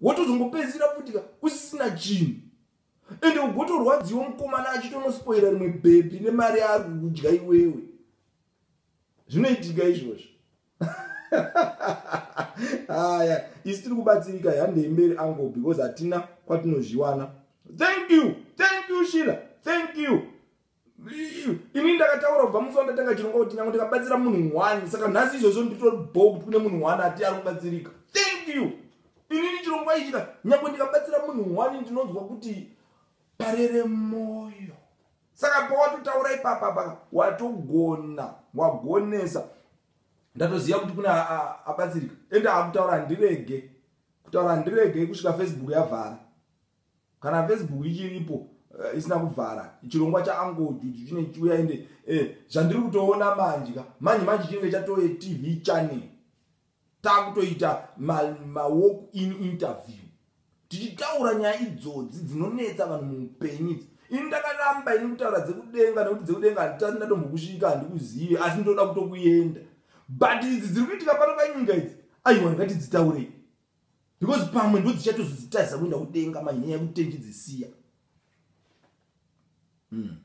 wotozongopedzisira futi ka usisina chinhu ende ugotorwadziwa mukomana achitonospoira rimwe bhebhi nemari yaari kukudya iwewe zvinoitika izvozvo haya isi tiri kubatsirika handei mberi ango because hatina kwatinozviwana thank you thank you shila thank you Ini ndakataura kubva musi wandatanga chirongwa kuti nyange ndikabatsira munhu one saka nhasi izvozvo nditori bho kuti kune munhu one ati ari kubatsirika. Thank you. Inini chirongwa ichi ka nyange ndikabatsira munhu one ndinonzwa kuti parere moyo. Saka pawatotaura ipapa pa watogona wagonesa ndatoziva kuti kune abatsirika ende akutaura handirege kutaura handirege kusvika Facebook yavhara. kana facebook ichiripo eh, isina kuvhara chirongwa chaango juju chine chiuya ende eh, zvandiri kutoona manje ka manje manje chinenge chatoye tv channel takutoita mawalk in interview tichitaura nyaya idzodzi dzinonetsa vanhu muupenyu idzi ini ndakaramba ini kutaura dzekudenga nekuti dzekudenga handitati ndatombokusvika handikuzive asi ndoda kutokuenda but idzi dziri kuitika pano panyika idzi aiwa ndingati dzitaurei because pamwe ndo dzichatozodzitarisa kuenda kudenga manje nyaya yekutenji dzisiya hmm.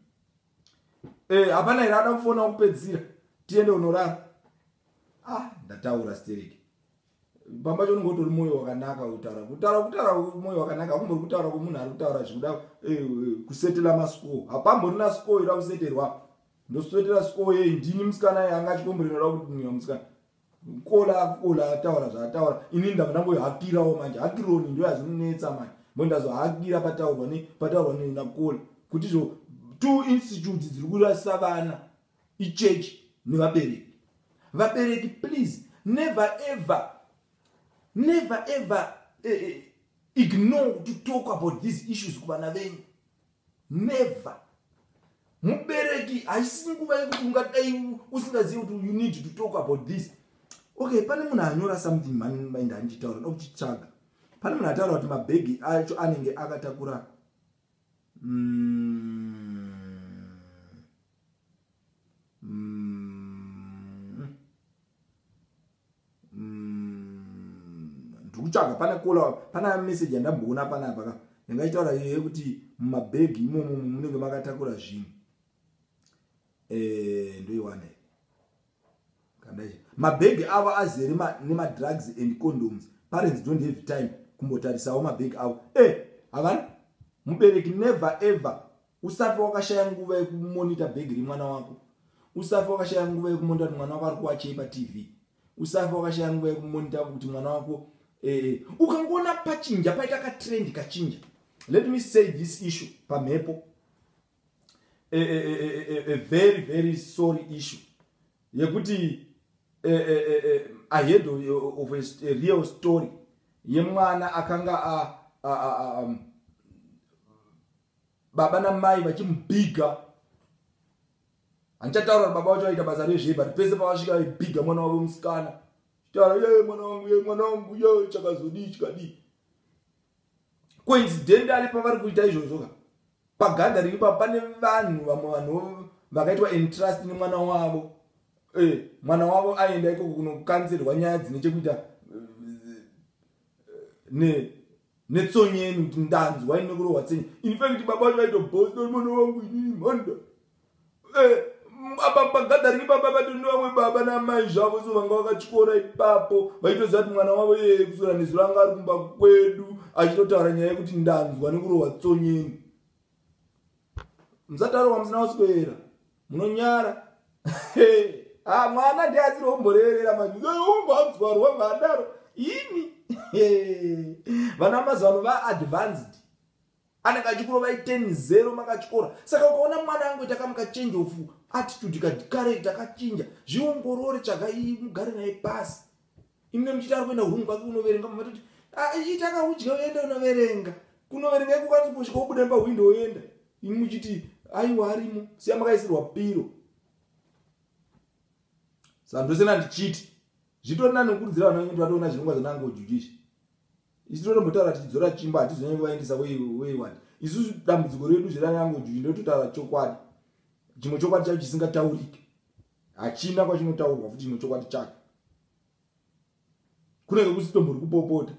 eh, hapana here ada kufona kupedzisira tiende unorara ah ndataura stereki pamba cho unenge utori mwoyo wakanaka kutaura kutaura kutaura mwoyo wakanaka akumbori kutaura kwemunhu ari kutaura zvikuda eh, eh, kusetela mascore hapamborina score ira kuseterwa ndosetela score yei ndini musikana ye anga achikomborera kuti ndinga musikana Mkola akukola ataura zvaataura ini ndava ndangohakirawo manje hakironi ndo yazvinonetsa manje mbo ndazohakira pataurwa ne pataurwa ne nakukola kuti zvo two institutes dziri kurasisa vana ichurch nevabereki vabereki please never ever never ever eh, eh, ignore to talk about these issues kuvana venyu Never. Mubereki haisi nguva yekuti ungadai usingazivi kuti you need to talk about this. Okay, pane munhu anyora something mani mai ndandichitaura ndokuchitsvaga. Pane munhu ataura kuti mabhegi acho anenge akatakura mm. Mm. Mm, ndikutsvaga pane kola pana message yandamboona panapa ka yanga ichitaura iye kuti mumabhegi imomo munenge makatakura zvinhu eh, ndoiwana kandai mabhegi avo azere nemadrugs and condoms parents don't have time kumbotarisawo mabhegi avo e eh, havana mubereki never ever Usafe wakashaya nguva yekumonita bhegi remwana wako. Usafe wakashaya nguva yekumonita kuti mwana wako ari kuwachei patv. Usafe wakashaya nguva yekumonita kuti mwana wako eh, eh. ukangoona pachinja paita katrend kachinja. Let me say this issue pamhepo. A, a, a, a very very sorry issue yekuti ahead of a real story yemwana akanga a, a, a, a, um, baba namai vachimubhiga handichataura kuti baba vacho vaita basa rezvei but pese pavasvika vaibhiga mwana wavo musikana taura ye mwana wangu ye mwana wangu ye chakazodii chikadii coincidentally pavari kuita izvozvo ka pagathering ipa pane vanhu vamwe vanhu vakaitwa entrust nemwana wavo eh, mwana wavo aenda ikoko kunokanzirwa nyaya dzine chekuita eh, ne Netsonye yenyu kuti ndanzwa ini kurohwa tsenye. In fact baba vacho vaitobosta kuti mwana wangu inini mhanda. Eh, apa pagathering baba vato nevamwe baba namai zvavo so vanga vakatyora ipapo vaitoziva kuti mwana wavo iyeye kuswera nezuro anga ari kumba kwedu achitotaura nyaya yekuti ndanzwa nekurohwa tsonyeni. musataro wamusina kuswera munonyara ah, mwana ndiasiri omboreverera maumboaudzwarwa oh, mhandaro ini vana mazuva ano vaadvanced anenge achikurova iten zero makachikora saka ukaona mwana angu ita kamuka change of attitude kadikarei takachinja zviongorore tsvaga mugare naye pasi imwe muchiti ari kuenda home kwake kunoverenga mamatoti ah, ita kaudya uenda unoverenga kunoverenga ikukwanisa kusvika ubuda nepahwindo oenda imi muchiti aiwa arimo siya makaisirwa piro sandosena ndichiti zvitori nani kukurudzira vana vekuti vatoona zvirongwa zvanango judish isu totombotaura tichidzora chimba hatizonyange vaendesa weiwani isusu dambudziko redu zveranango judish ndototaura chokwadi chimwe chokwadi chacho chisingataurike hachina kwachinotaurwa futi chino chokwadi chacho kunenge kusitombo ri kupopota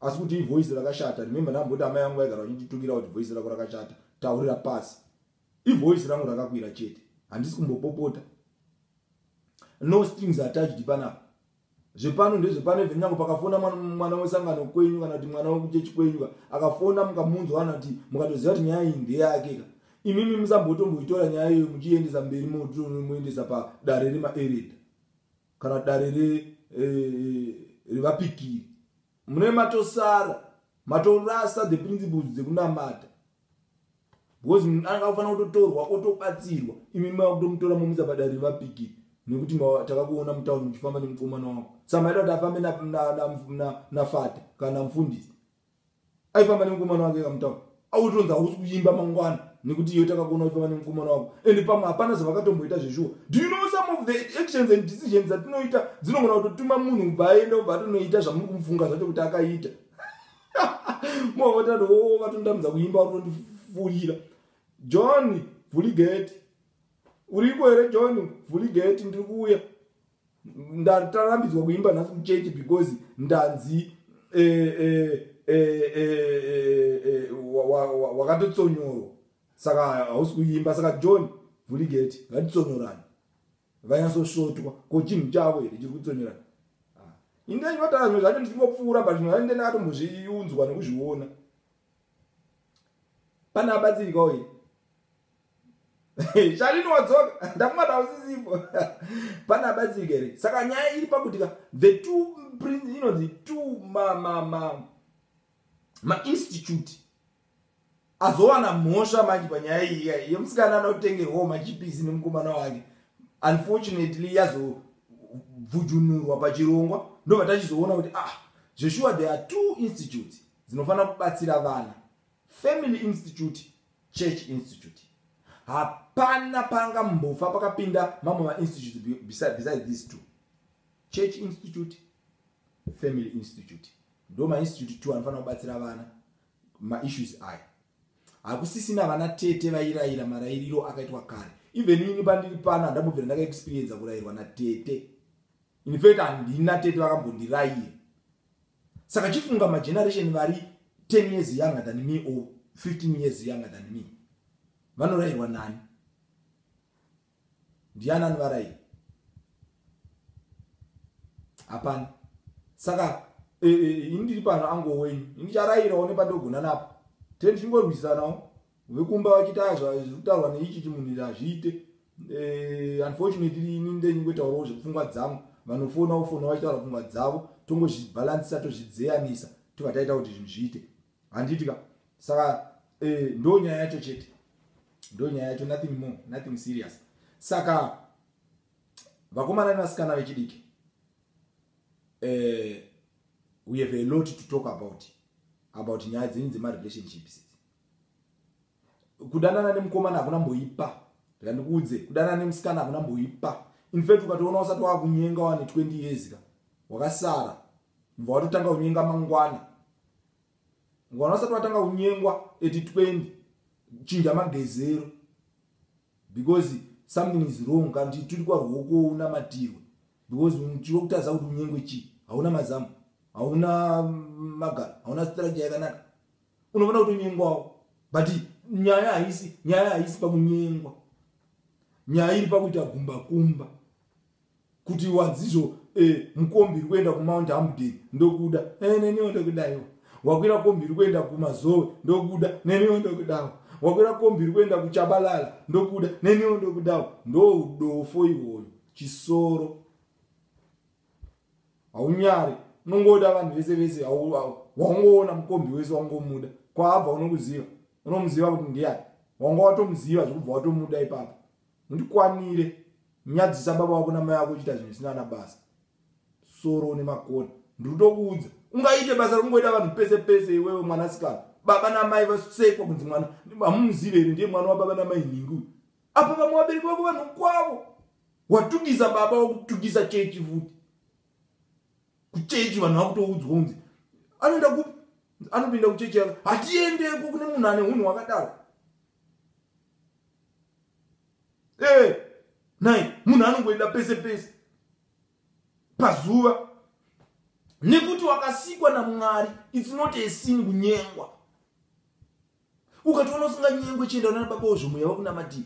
asi kuti ivoice rakashata remembe ndamboti amai yangu vaigara vachinditukira kuti voice rako rakashata taurira pasi ivoice rangu rakakwira chete handisi kumbopopota no strings attached panapa zvepano ndezvepano even nyange pakafona mwana wesangano kwenyu kana kuti mwana wekuchechi kwenyu ka akafona mukamunzwa kana kuti mukatoziva kuti nyaya iyi ndeyake ka imimi musambotomboitora nyaya iyoyo muchiiendesa mberi moendesa padare remaereda kana dare eh, revapikiri mune matosara matorasa the principles dzekunamata because munhu anga kufanira kutotorwa otobatsirwa imi mava kutomutora momutsa padare revapiki nekuti takakuona mutauni muchifamba nemukomana wako sa maida kuti afambe nafata kana mufundisi aifamba nemukomana wake kamutauni autonzi hausi kuimba mangwana nekuti iyo takakuona uchifamba nemukomana wako and pamwe hapana zvavakatomboita zveshuwa do you know some of the actions and decisions dzatinoita dzinogona kutotuma munhu ubva aenda ubva atonoita zvamuri kumufunga zvacho kuti akaita mwavatati wo oh, vatondamidza kuimba uri kundifurira john vhuligeti uriko here john vhuligeti ndiri kuuya ndatarambidzwa kuimba nhasi muchechi because ndanzi eh, eh, eh, wakatotsonyorwa saka hausi kuimba saka john vhuligeti ngatitsonyorani vanyatsosvotwa ko chinhu chavo here chiri kutsonyerana ah, inde ndinotaura zvimwe zvacho ndichingopfuura but zvimwe zvacho ndine akatombozviunzwa nekuzviona pane abatsirikawo here shalini wadzoka ndakumata usisipo pane abatsirika here saka nyaya iri pakuti ka the two prince inonzi two ma ma ma ma institute azowana mhosva manje panyaya iyi iyai yemusikana anotengerwawo machipisi nemukomana wake unfortunately yazobvujunurwa pachirongwa ndobva tachizoona kuti ah zveshuwa there are two institutes dzinofanira kubatsira vana family institute church institute hapana panga mbofa pakapinda mamwe mainstitute besides these two church institute family institute ndo mainstitute two anofanira kubatsira vana ma issues aya hakusisina vana tete vairaira marairiro akaitwa kare even ini pandiri pano handambobvira ndaka experienza kurairwa natete in fact handina tete vakambondiraira saka chifunga mageneration vari 10 years younger than me or 15 years younger than me vanorairwa nani Ndiani anivaraira? Hapana. Saka e, e, ini ndiri pano ango wenyu. Ini ndicharairawo nepandogona napo. Tee ndichingorwisanawo. Vekumba vachitaya zvekutaurwa neichi chimunhu iri hazviite. E, unfortunately ini ndenyu ngotaurawo zvepfungwa dzangu. Vanofona wofona vachitaura pfungwa dzavo. Tongozvibhalansisa tozvidzeyanisa tobva taita kuti zvinhu zviite. Handiti ka saka eh, ndo nyaya yacho chete ndo nyaya yacho nothing more nothing serious saka vakomana nevasikana vechidiki eh, we have a lot to talk about about nyaya dzenyu dzemarelationships kudanana nemukomana hakuna mboipa randikuudze kudanana nemusikana hakuna mboipa infact ukatoona usati wakunyenga wane 20 years ka wakasara Mva watotanga kunyenga mangwana. Mangwana usati watanga kunyengwa at 20 chinja magezero because something is wrong kana kuti turi kwaruoko unamatirwe because tiri kutaza kuti unyengwe chii hauna mazamu hauna magaro hauna strategy yakanaka unoona kuti unyengwawo but nyaya haisi nyaya haisi pakunyengwa nyaya iri pakuita gumbakumba kuti wadzizo eh, mukombi iri kuenda kumount hamden ndokuda eh, neniwo ndokudaiwa wakwira kombi iri kuenda kumazowe ndokuda neniwo ndokudawo wakwira kombi iri kuenda kuchabalala ndokuda neniwo ndokudawo ndoudofo iwoyo chisoro haunyari unongoda vanhu vese vese waungoona mukombi wese waungomuda kwaabva unokuziva unomuziva kuti ndiyani wanga watomuziva zvekubva watomuda ipapo Mundikwanire. Nyadzisa baba vako namai vako uchiita zvinhu zvisina ana basa. Soro une makona. Ndiri kutokuudza. Ungaite basa rokungoita vanhu pese pese iwewe mwanasikana. Baba namai vasekwa kunzi mwana. Hamumuzive here ndiye mwana wababa namai nhingi uyu. Apa vamwe vabereki vako vanhu kwavo. Watukisa baba wakutukisa chechi futi. Kuchechi vanhu vakutoudzwa kunzi anoenda kupi? Anopinda kuchechi yako. Hatiendeko kune munhu ane hunhu wakadaro. ee eh, nai munhu anongoenda pese pese pazuva nekuti wakasikwa namwari its not a sin kunyengwa ukatoona usinganyengwe chienda unana baba ozvo mweya wakunamadii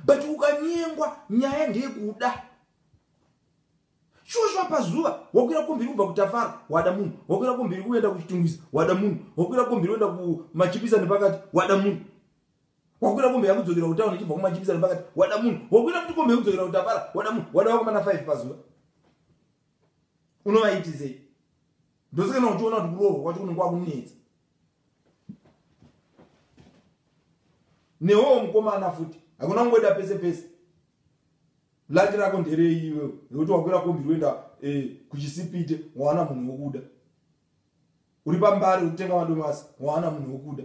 but ukanyengwa nyaya ndeyekuda shosho pazuva wakwira kombiri kubva kutafara wada munhu wakwira kombiri kuenda kuchitungwiza wada munhu wakwira kombiri uenda kumachipisa nepakati wada munhu wakwira kombe yakudzokera kutauni ichibva kumajipisa nepakati wada munhu wakwira kuti kombe yekudzokera kutapara wada munhu wada vakomana 5 pazuva unovaitizei ndosekana uchiona kuti kuroorwa kwacho kunenge kwakunetsa newowo mukomana futi hakuna kungoita pese pese laki rako nderei iwewe nekuti wakwira kombi roenda eh, kuchisipite wawana munhu wokuda uri pambari ukutenga madomasi wawana munhu wokuda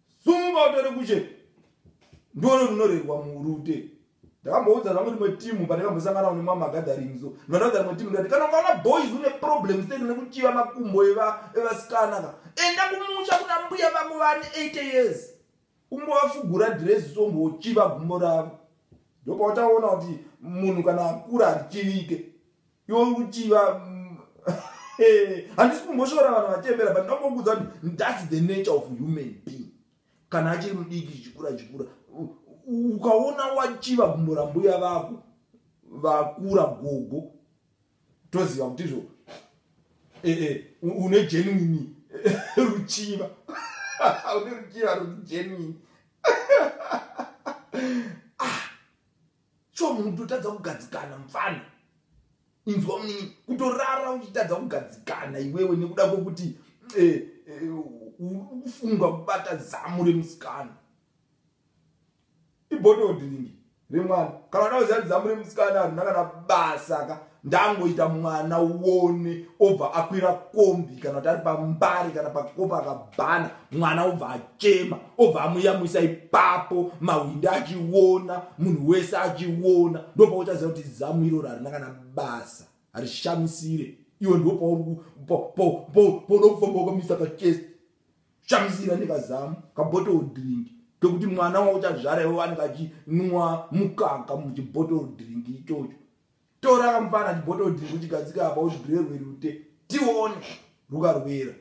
Sumuka utore kushe. Ndoro runorerwa murute. Ndakamboudza zvangu rimwe timu pane vambosangana ne mama gathering so. Ndakadza rimwe timu ndati kana ukaona boys une problems tete nekuchiva makumbo eva evasikana ka. Enda kumusha kuna mbuya vako vane 80 years. Umbovafugura dress so mbochiva gumbo ravo. Ndopautaona kuti munhu kana akura achivike. yokuchiva handisi kumboshora vanhu vachembera but ndongokuudza kuti thats the nature of human being kana achiri mudiki chichikura chikura ukaona wachiva gumbo rambuya vako vakura gogo toziva kuti izvo e, e, une genuini ruchiva une ruchiva ruri genuini Sure munhu kutotadza kugadzikana mfana inzwa munini kutorara uchitadza kugadzikana iwewe nekuda kwekuti eh, eh, ufunga kubata zamu remusikana ibhododringi remwana kana udakuziva kuti zamu remusikana harina kana basa ka ndangoita mwana uone obva akwira kombi kana kuti ari pambari kana pakopa akabhana mwana obva achema obva amuyamwisa ipapo mahwindi achiona munhu wese achiona ndopauchaziva kuti zamu iroro harina kana basa harishamisire iwe ndopaunoda kufamba wakamisa kachest shamisira nekazamu kabottle drink kekuti mwana wauchazvara iwe anenge achinwa mukaka muchibottle drink ichocho Tora kamfana chibhododhi kuchigadzika apa uzvirerwe rute tione rukarwera.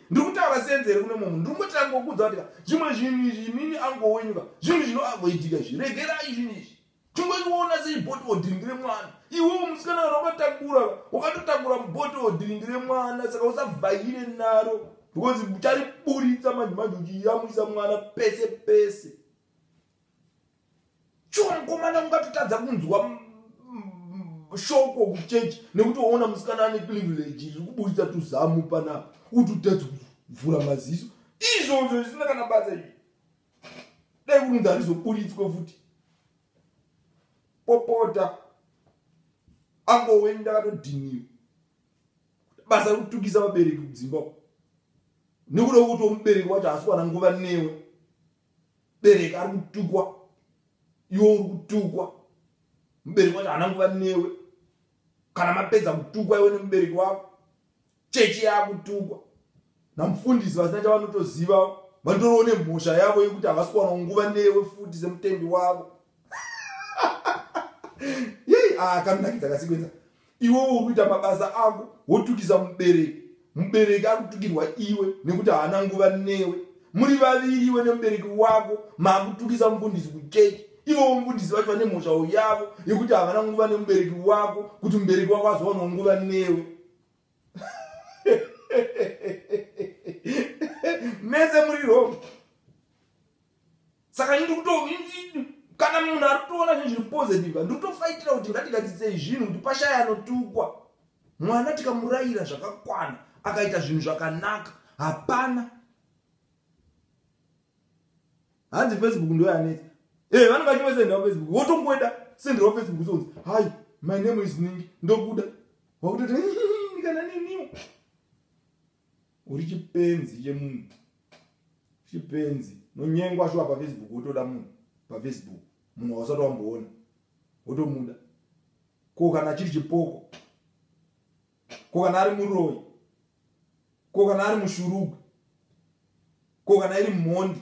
Ndiri kutaura senze here kune mumwe ndiri kutanga kukudza kuti zvimwe zvinhu izvi inini angowenyuka zvinhu zvinoavoidika izvi regerai zvinhu izvi tingoiona sechibhodhiwo dhiringi remwana iwewo musikana kana wakatakura wakatotakura mubhodhiwo dhiringi remwana saka usavhaire naro because uchariburitsa manje manje uchiyamwisa mwana pese pese Sure mukomana ungatotadza kunzwa shoko kuchurch nekuti waona musikana ane privilege riri kuburitsa tuzamu panapa utotadzi kuvhura maziso izvozvo zvisina kana basa izvi dai kunzi harizoburitswe futi popota angoweni ndakatodhiniwa basa rekutukisa vabereki kudzimba nekuda kuti omubereki wacho haasi kuwana nguva newe bereka ari kutukwa iwe uri kutukwa mubereki wacho haana nguva newe kana mapedza kutukwa iwe nemubereki wako chechi yaakutukwa namufundisi vasina chavanotoziva vatoriwo nemhosva yavo yekuti havasi kuwana nguva newe futi semutendi wavo yei akanakidza ah, kasikwedza iwewo uri kuita mabasa ako wotukisa mubereki mubereki ari kutukirwa iwe nekuti haana nguva newe muri vaviri iwe nemubereki wako maakutukisa mufundisi kuchechi ivowo mufundisi vacho vane mhosvawo yavo yekuti havana nguva nemubereki wako kuti mubereki wako azowanwa nguva newe mese muri roma saka ini ndikuto kana munhu ari kutoona zvinhu zviri positive ndikutofaitira kuti ngatigadzidzei zvinhu kuti pashaya anotukwa mwana tikamurayira zvakakwana akaita zvinhu zvakanaka hapana hanzi facebook ndo yanetsa e eh, vanenge vachimwe sendira facebook wotongoenda sendira facebook sonzi hai my name is ningi ndokuda wakutoti kana niniwo uri chipenzi chemunhu chipenzi nonyengwa shuwa pafacebook wotoda munhu pafacebook munhu wausati wamboona wotomuda ko kana chiri chipoko ko kana ari muroyi ko kana ari mushurugwi ko kana iri mhondi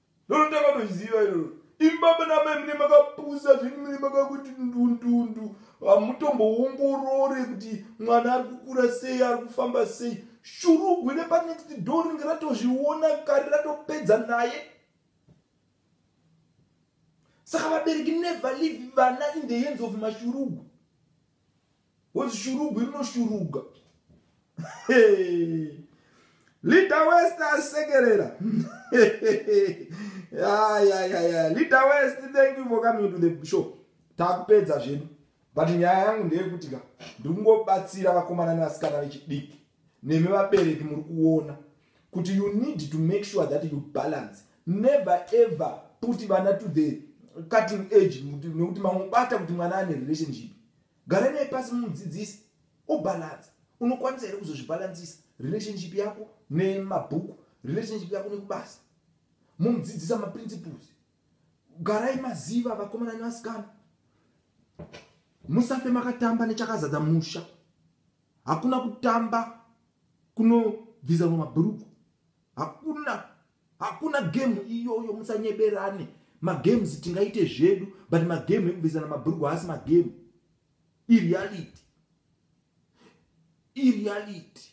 Lolo takatoziva iroro. Imi baba namai mune makapusa zvini mune makakuti ndundundu hamutomboongorore kuti mwana ari kukura sei ari kufamba sei shurugwi repanext door ringe ratozviona kari ratopedza naye saka vabereki never leave vana in the hands of mashurugwi What's shurugwi rinoshuruga. Hey. Leader West asekerera. yeah, yeah, yeah, yeah. Leader West, thank you for coming to the show. Takupedza zvedu. But nyaya yangu ndeyekuti ka ndingobatsira vakomana nevasikana vechidiki nemi vabereki muri kuona kuti you need to make sure that you balance never ever put vana to the cutting age nekuti mamubata kuti mwana ane relationship Gara naye pasi mumudzidzise obalansa. Unokwanisa here kuzozvibalansisa relationship yako nemabhuku, relationship yako nekubasa? Mumudzidzisa maprinciples. Garai maziva vakomana nevasikana. Musafe makatamba nechakazadza musha. Hakuna kutamba kunobvisa mumabhuruku. hakuna hakuna game iyoyo musanyeberane magames tingaite zvedu but magame ekubvisana mabhurugwa haasi magame ireality ireality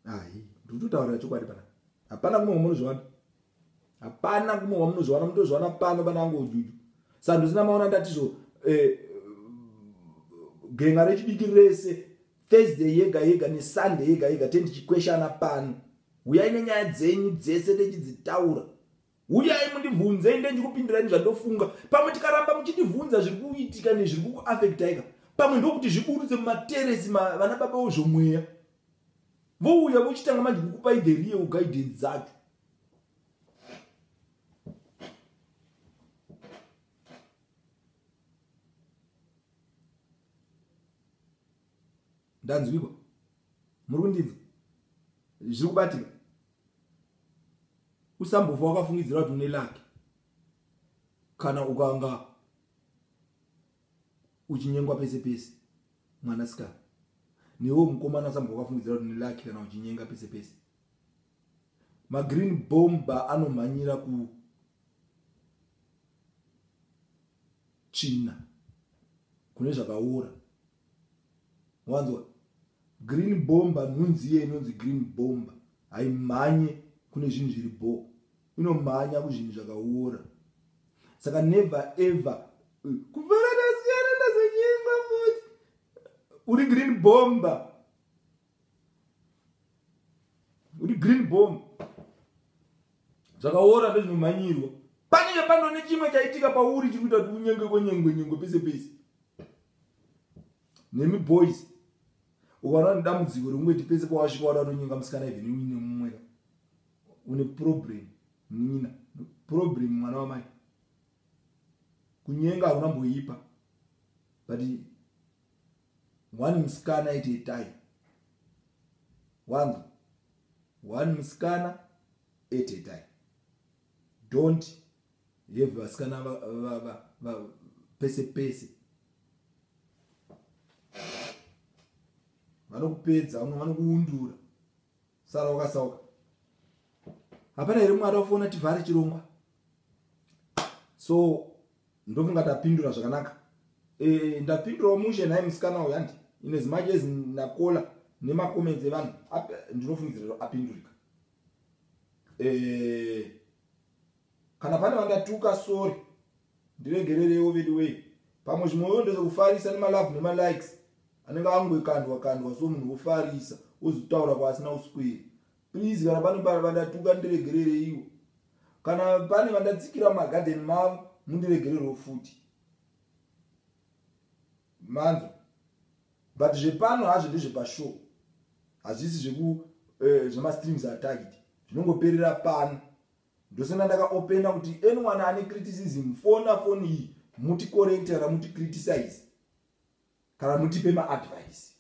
hai ndikutotaurira chokwadi pana hapana kumwe kwamunozviwana hapana kumwe kwamunozviwana mutozviwana pano pana angu ujuju sando zina maona ndatizvo eh, genga rechidiki rese Thursday yega yega neSunday yega yega tendichikweshana pano. Huyai nenyaya dzenyu dzese techidzitaura. Huyai mundibvunze inde ndikupindirai zvandofunga. Pamwe tikaramba muchindibvunza zviri kuitika nezviri kukuafektaika. Pamwe ndokuti zviburutse mumateresi ma vana baba wozvomweya. Vouya vochitanga manje kukupai the real guidance dzacho. ndanzwikwa muri kundinzwa zviri kubatika usambofa wakafungidzira kuti une laki kana ukanga uchinyengwa pese pese mwana sikana newo mukomana usambofa wakafungidzira kuti une laki kana uchinyenga pese pese magreen bomba anomhanyira ku tsvina kune zvakaora wanzwa green bomba nhunzi iye inonzi green bomba haimhanye kune zvinhu zviri bho inomhanya kuzvinhu zvakaora saka never ever eh, kuvarana siyana nazonyengwa futi uri green bomba kuti green bomb zvakaora ndozvinomhanyirwa panenge pano nechimwe chaitika pauri chiri kuita kuti unyenge kwenyengwe nyengwe pese pese nemi boys ukaona nedambudziko rekungoiti pese pawasvika wada kutonyenga musikana even uine mumweka une problem nina problem mwana wamai kunyenga hakuna mboipa but One musikana aiti etai wangu one musikana at a time don't have vasikana pese pese vanokupedza vamwe vanokuundura sara wakasauka hapana here mwari wafoona tivhare chirongwa so ndofunga tapindura zvakanaka e, ndapindurawo mushe nhai musikana uyo handi ine zimaji ezi ndakola nemacomments evanhu ndinofungidzira apindurika e, kana pane vandatuka sori ndiregererewo veduwei pamwe zvimwe yo ndezvekufarisa nemalove nemalikes anenge angoikandwa kandwa so munhu wofarisa wozotaura kwaasina uswiri Please kana pane vandatuka ndiregerereiwo. Kana pane vandatsikira mumagarden mavo mundiregererewo futi. Manzo. But zvepano hazvo ndezvepashow. Hazvisi zveku eh, zvemastreams attacked. Zvinongoperera pano. Ndosona ndakaopena kuti anyone ane criticism fona foni iyi muti correct kana muti criticize kana mutipe maadvice.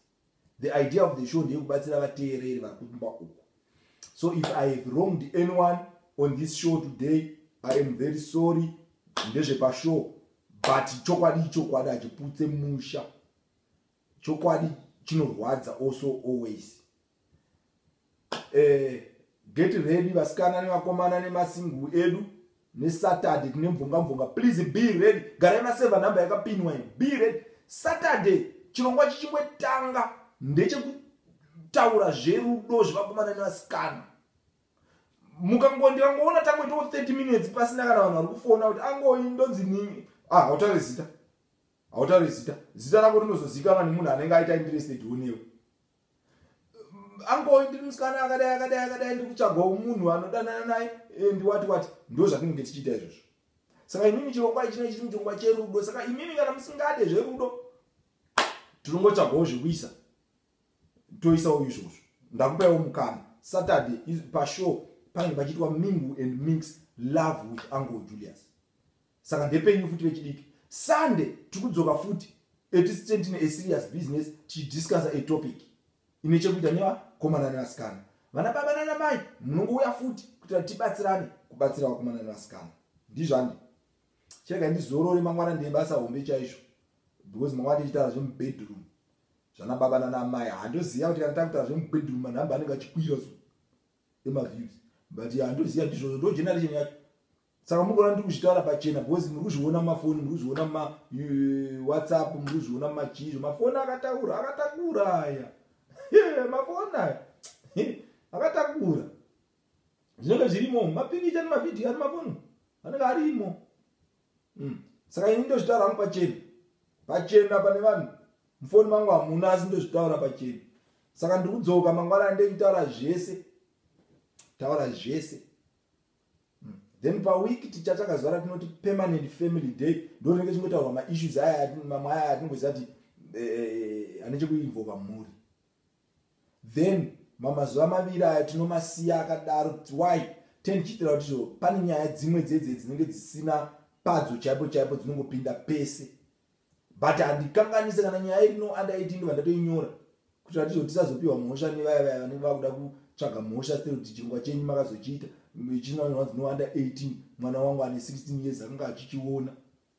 The idea of the show ndeyekubatsira vateereri vari kumba uku. So if I have wronged anyone on this show today, I am very sorry. Ndezvepashow but chokwadi ichokwadi hachiputse musha. Chokwadi chinorwadza also always. eh, get ready vasikana nevakomana nemasingu edu nesaturday tine mvongamvonga please be ready garai maseva number yakapinwa ino be ready saturday chirongwa chichingotanga ndechekutaura zverudo zvevakomana nevasikana mukangondikangoona tangoitawo 30 minutes pasina kana vanhu vari kufona kuti angoi ndonzi nini ah, hautaure zita hautaure zita zita rako rinozozikanwa nemunhu anenge aita interested unewe angoyi ndiri musikana akadai akadai akadai ndiri kutsvagawo munhu anodanana naye eh, ndiwati wati ndo zvatinenge tichiita izvozvo saka imimi chirongwa ichina chiri muchirongwa cherudo saka imimi kana musingade zverudo tinongotsvagawo zvekuisa toisawo izvozvo ndakupaiwo mukana saturday pashow panenge pachiitwa mingu and mix love with uncle julius Saka ndepenyu futi vechidiki. Sunday tiri kudzoka futi at least tine tine a serious business tichidiscussa a topic ine chekuita nevakomana nevasikana. Vana baba nana mai munongouya futi kuitira kuti tibatsirane kubatsira vakomana nevasikana. Ndizvo handi. Chirega ndizorore mangwana ndeye basa hombe chaizvo because mangwana tichitaura zvemubedroom zvana baba nana mai handoziva kuti kana takutaura zvemubedroom manhamba anenge achikwira so emaviews but handoziva ndizvozvo ndo generation yacho saka mukaona ndiri kuzvitaura pachena because muri kuzviona mumafoni muri kuzviona mumawhatsapp muri kuzviona mumachii zvemafoni akataura akatakura aya mafoni aya akatakura zvinenge zvirimo mapikicha nemavhidhiyo ari mafoni anenge arimo hmm. saka ini ndozvitaura hangu pachena pachena pane vanhu mufoni mangu hamuna asi ndozvitaura pachena saka ndiri kudzoka mangwana andekutaura zvese taura zvese then paweek ticha takazuva ratinoti permanent family day ndorinenge chingotaurwa maissues aya mamwe aya atinongoziva ti eh, ane chekuinvoka mhuri then mamazuva maviri aya tinomasiya akadaro kuti why tendichiitira kuti zvo pane nyaya dzimwe dzedze dzinenge dzisina padzo chaipo chaipo dzinongopinda pese But handikanganise kana nyaya iri no under 18 ndobva ndatoinyora kuitira kuti tisazopiwa mhosva nevaya vaya vanenge vakuda kutsvaga mhosva still kuti chirongwa chenyu makazochiita chinanonzi no under 18 mwana wangu ane 16 years akanga achichiona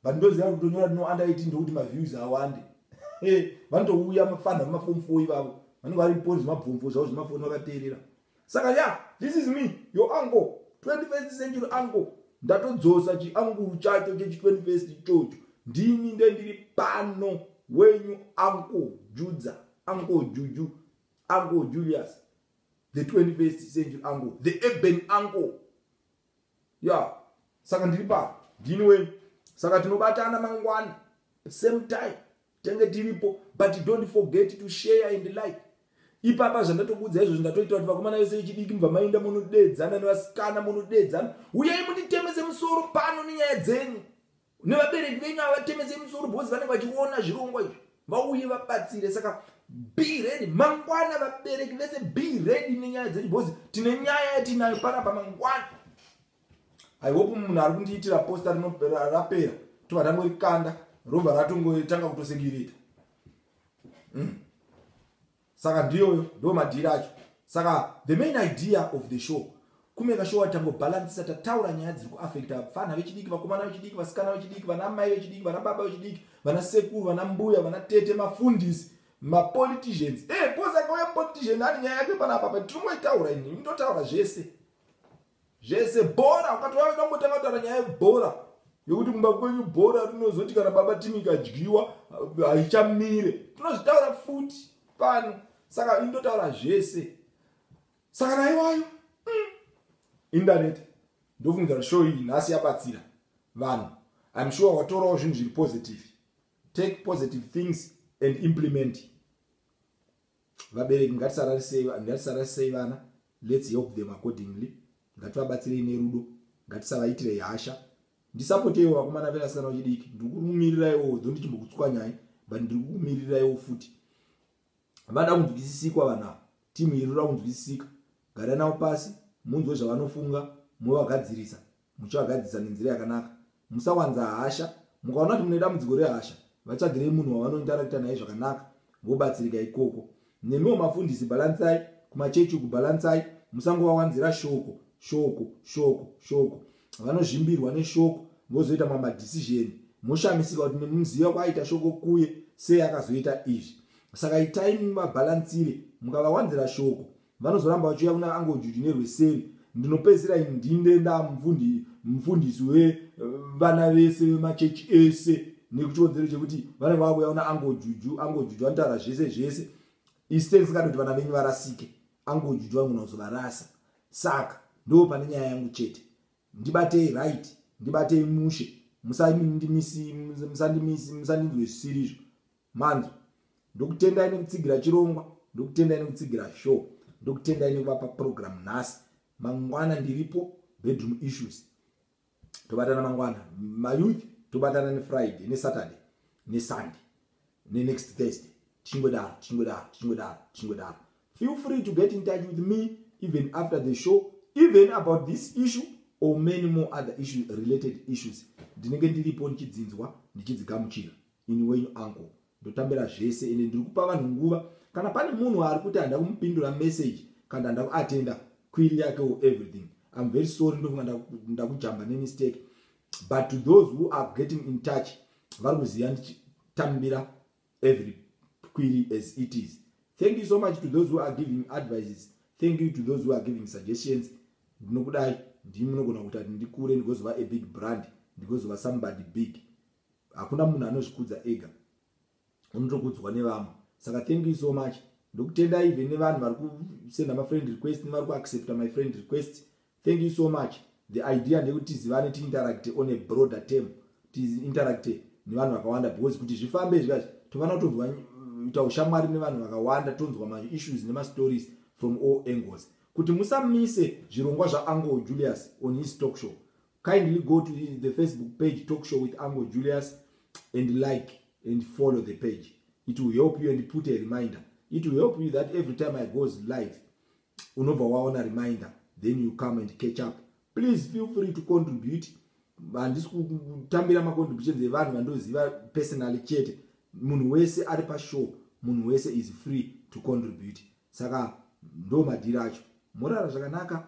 but ndoziva kuti kutonyora kuti no under 18 ndokuti maviews awande vanotouya mafanha vemafomu fo ivavo vanenge vari poni zvemabvomvo zvavo zvemafoni vakateerera Saka ya this is me your uncle 21st century uncle ndatodzosa chianguru chacho chechi 21st ichocho ndini nde ndiri pano wenyu uncle judza uncle juju uncle julius the 21st century uncle the urban uncle ya saka ndiri pano ndini wenyu saka tinobatana mangwana same time Tange tiripo but don't forget to share and like. Ipapa zvandatokuudza izvozvo ndatoita kuti vakomana vese vechidiki mubva mainda munodeedzana nevasikana munodeedzana. Uyai munditemese musoro pano nenyaya dzenyu. Nevabereki venyu havatemese musoro because vanenge vachiona zvirongwa izvi. Vauye vabatsire saka be ready mangwana vabereki vese be ready nenyaya dzenyu because tine nyaya yatinayo panapa mangwana. i hope munhu ari kundiitira posta rapera tobva tangorikanda robva ratongotanga kutosegirita mm. saka ndiyoyo ndo madhiri acho saka the main idea of the show kumeka show atangobhalansisa tataura nyaya dziri kuafekta vapfana vechidiki vakomana vechidiki vasikana vechidiki vana mai vechidiki vana baba vechidiki vana sekuru vana mbuya vana tete mafundisi mapoliticians e eh, hey, bosakauya politician ane nyaya yake panapa pa tinomoitaura ini ndotaura zvese zvese bhora ukati wave kutambotanga kutaura nyaya yebhora yokuti kumba kwenyu bhora rinozoti kana baba timu ikadyiwa haichamire tinozvitaura futi pano saka indotaura zvese saka naiwayo mm. indaneta ndofungidzira show iyi nhasi yabatsira vanhu im sure watorawo zvinhu zviri positive take positive things and implement Vabereki ngatisararisei vana let's help them accordingly ngativabatsirei nerudo ngatisavaitirei hasha ndisapoteiwo vakomana venasikana vechidiki ndiri kukumiriraiwo dho ndichimbokutswanyai but ndiri kukumiriraiwo futi vada kunzwisisikwa vanhu ava timu iri roda kunzwisisika gara navo pasi munzwe zvavanofunga movagadzirisa Muchivagadzirisa nenzira yakanaka. Musawanza hasha. Mukaona kuti mune dambudziko rehasha, vatsvagirei munhu wavanoindarakita naye zvakanaka vobatsirika ikoko. Nemiwo mafundisi bhalansai kumachechi uku, bhalansai. Musangovawanzira shoko, shoko, shoko, shoko. Vanozvimbirwa neshoko vozoita mamwe madhisizheni moshamisika kuti nemuziva kwaaita shoko kuye sei akazoita izvi. Saka itai mubabhalansire mukavawanzira shoko. Vanozoramba vachiuya kuna Uncle Juju nerweseri. Ndinopedzisira ini ndinde ndamfundi mfundisi we vana vese vemachechi ese nekuchiwedzero chekuti vanenge vakuuya kuna Uncle Juju. Uncle Juju vanotaura zvese zvese. Iste ndisingadi kuti vana venyu varasike. Uncle Juju vanogona kuzovarasa. Saka ndo pane nyaya yangu chete. Ndibatei right, ndibatei mushe. Musandimisi musandimisi musandinzwe zvisirizvo. manzwa ndokutendai nekutsigira chirongwa ndokutendai nekutsigira show ndokutendai nekuvapa program nhasi mangwana ndiripo bedroom issues tobatana mangwana mayouth tobatana nefriday nesaturday nesunday nenext thursday tichingodaro tichingodaro tichingodaro tichingodaro feel free to get in touch with me even after the show even about this issue or many more other issues related issues ndinenge ndiripo ndichidzinzwa ndichidzigamuchira Ini wenyu uncle ndotambira zvese ende ndiri kupa vanhu nguva kana pane munhu ari kuti handa kumupindura message kana handa kuatenda query yake or everything I'm very sorry ndofunga ndakujamba ndaku nemistake but to those who are getting in touch vari kuziva ndichitambira every query as it is thank you so much to those who are giving advices thank you to those who are giving suggestions ndinokudai ndimi munogona kuita kuti ndikure ndigozova a big brand ndigozova somebody big Hakuna munhu anozvikudza ega unotokudzwa nevamwe saka thank you so much ndokutenda even nevanhu vari kusenda mafriend request nevari kuaccepta my friend request thank you so much the idea ndekuti tizivane tiinteracte on a broader term tiinteracte nevanhu vakawanda because kuti zvifambe zvikazi tofanira kutonzwa ita ushamwari nevanhu vakawanda tonzwa maissues nemastories from all angles kuti musamise zvirongwa zvaangle julius on his talk show Kindly go to the Facebook page Talk Show with Uncle Julius and like and follow the page. It will help you and put a reminder. It will help you that every time I goes live, unova waona reminder, then you come and catch up. Please feel free to contribute. Handisi kutambira macontributions evanhu vandoziva personally chete. Munhu wese ari pashow, munhu wese is free to contribute. Saka ndo madhiri acho. Morara zvakanaka.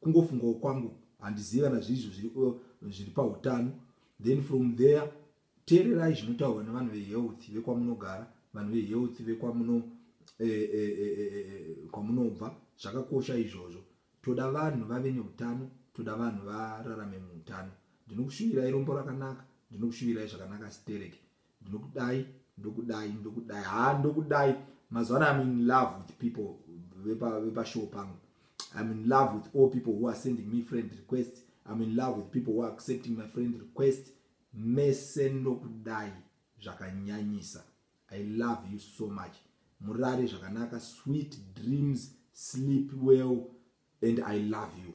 kungofungawo kwangu handizivi kana zviri izvo zviri uh, zviri pautano then from there teererai zvinotaurwa nevanhu vehealth vekwamunogara vanhu vehealth vekwamuno e, e, e, kwamunobva zvakakosha izvozvo toda vanhu vave neutano toda vanhu vararame muutano ndinokushuvirai rombo rakanaka ndinokushuvirai zvakanaka stereki ndinokudai ndokudai ndokudai haa ndokudai mazuva ano im in love with people vepashow vepa pangu im in love with all people who are sending me friend request im in love with people who are accepting my friend request mese ndokudai zvakanyanyisa i love you so much murare zvakanaka sweet dreams sleep well and i love you